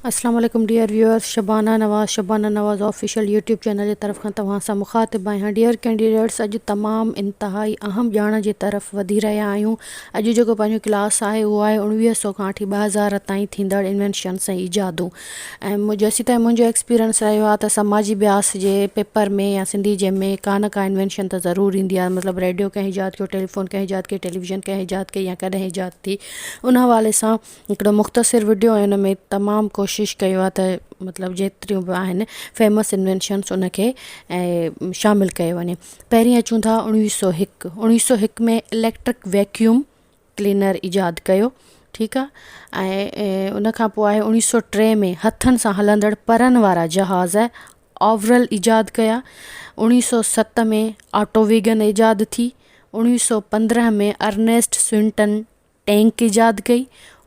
اسلام عليڪم dear viewers Shabana Nawaz Shabana Nawaz Official YouTube channel جي طرف کان توهان سان مخاطب آهيان ڊيئر ڪينڊيڊيٽس اڄ تمام انتهائي اهم ڄاڻ جي طرف وڌي رهيا آهيون اڄ جيڪو پنهنجو ڪلاس آهي اهو آهي اوڻويهه سئو کان وٺي ٻه هزار تائين ٿيندڙ انوينشنس ۽ ايجادون ۽ جيسيتائين منهنجو ايڪسپيرينس رهيو آهي ته سماجي بياس جي پيپر ۾ يا سنڌي جي ۾ ڪا نه ڪا انوينشن ته ضرور ايندي آهي مطلب ريڊيو ڪنهن ايجاد ڪيو ٽيليفون ڪنهن ايجاد ڪيو ٽيليويزن ڪنهن ايجاد ڪئي يا ڪڏهن ايجاد ٿي ان حوالي سان هڪڙو مختصر وڊيو ۽ ان ۾ تمام ڪوشش ڪيو آهي ته مطلب جيتريون به آهن فيمس انوينشنس ان کي ۽ شامل ڪيو وڃي پهرين اچون ٿا اڻويهه سو هڪ اڻويهه سو هڪ ۾ اليڪٽرڪ ويڪيوم ڪلينر ايجاد ڪيو ٺيڪ آهي ۽ ان کان پوء آهي اڻويهه سو ٽي ۾ هٿن سان هلندڙ پرن وارا جهاز آورل ايجاد ڪيا اڻويهه سو ست ۾ آٽو ويگن ايجاد ٿي اڻويهه سو پندرهن ۾ ارنيسٽ سوئنٽن ٽينڪ ايجاد ڪئي.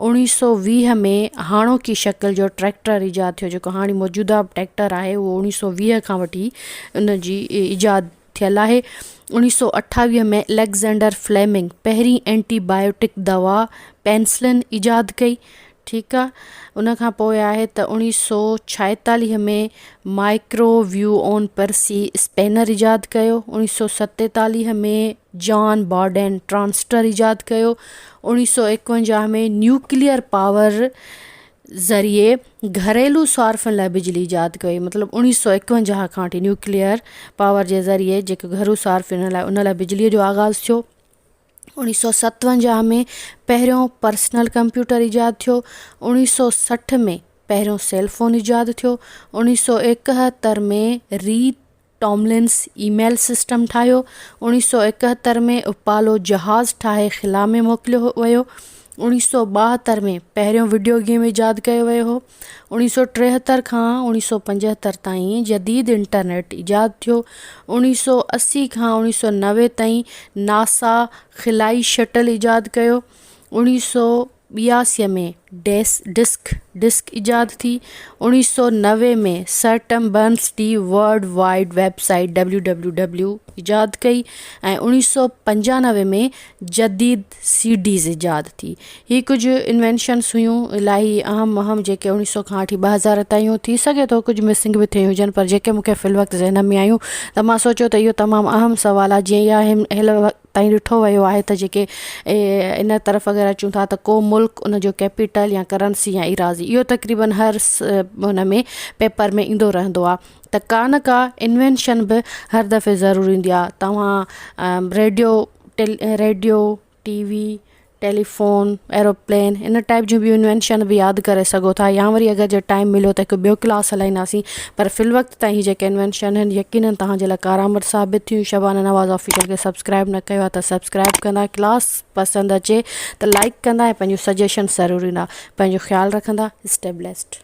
اوڻيهه سؤ ويهه ۾ هاڻوڪي شڪل جو ٽريڪٽر ايجاد ٿيو جيڪو هاڻي موجوده ٽريڪٽر آهي اهو اوڻيهه سؤ ويهه کان وٺي ان جي ايجاد ٿيل آهي اوڻيهه سؤ اٺاويهه ۾ اليگزينڊر فليمنگ پهرين اينٽي بايوٽڪ دوا پينسلن ايجاد ڪئي ٺيڪ آهي ان کان پوء آهي ته اوڻيهه سؤ ڇاهيتاليهه ۾ مائڪرو ويو اون پرسي اسپينر ايجاد ڪيو اوڻيهه سؤ ستيتاليهه ۾ جان بارڊين ٽرانسٽر ايجاد ڪيو. اوڻيهه سؤ ايڪونجاهه ۾ نيوڪليئر پاور ذريعي گهريلو صارفين لاء بجلي ايجاد ڪئي مطلب اوڻيهه سؤ ايڪونجاهه کان وٺي نيوڪليئر پاور جي ذريعي جيڪو گهرو صارفين لاء ان لاء بجلي جو آغاز ٿيو. اوڻيهه سؤ ستونجاهه ۾ پهريون پرسنل ڪمپيوٽر ايجاد ٿيو. اوڻيهه سؤ سٺ ۾ پهريون سيل فون ايجاد ٿيو. اوڻيهه سؤ ايڪهتر ۾ ري ٽاملنس اي ميل سسٽم ٺاهيو. اوڻيهه سؤ ايڪهتر ۾ اپالو جهاز ٺاهي خلا ۾ موڪليو ويو. اوڻيهه سؤ ٻاهتر ۾ پهريون وڊيو گيم ايجاد ڪيو ويو هو. اوڻيهه سؤ ٽيهتر کان اوڻيهه سؤ پنجهتر تائين جديد انٽرنيٽ ايجاد ٿيو. اوڻيهه سؤ اسي کان اوڻيهه سؤ نوي تائين ناسا خلائي شٽل ايجاد ڪيو. اوڻيهه سؤ. ٻياسي ۾ ڊيس ڊسڪ ڊسڪ ايجاد ٿي. اوڻيهه سؤ نوي ۾ sir Tim Berners the world wide web site WWW ايجاد ڪئي ۽ اوڻيهه سؤ پنجانوي ۾ جديد سي ڊيز ايجاد ٿي. هي ڪجهه انوينشنس هيون الاهي اهم اهم جيڪي اوڻيهه سؤ کان وٺي ٻه هزار تائيون ٿي سگهي ٿو ڪجهه مسنگ به ٿيون هجن پر جيڪي مونکي في الوقت ذهن ۾ آيون ته مان سوچيو ته اهو تمام اهم سوال آهي جيئن اها هيل تائين ڏٺو ويو آهي ته جيڪي ان طرف اگر اچون ٿا ته ڪو ملڪ ان جو ڪيپيٽل يا ڪرنسي يا ايراضي اهو تقريبن هر ان ۾ پيپر ۾ ايندو رهندو آهي ته ڪا نه ڪا انوينشن به هر دفعي ضرور ايندي آهي توهان ريڊيو ٽيل radio T V telephone, aeroplane ان ٽائيپ جون ٻيون انوينشن به ياد ڪري سگهو ٿا يا وري اگر جي ٽائيم مليو ته هڪ ٻيو ڪلاس هلائينداسين پر في الوقت تائين هي جيڪي انوينشن آهن يقينن توهان جي لاء ڪارآمد ثابت ٿيون شبانه نواز آفيشل کي سبسڪرائيب نه ڪيو آهي ته سبسڪرائيب ڪندا ڪلاس پسند اچي ته لائيڪ ڪندا ۽ پنهنجون سجيشنس ضرور ڏيندا پنهنجو خيال رکندا اسٽي بليسڊ.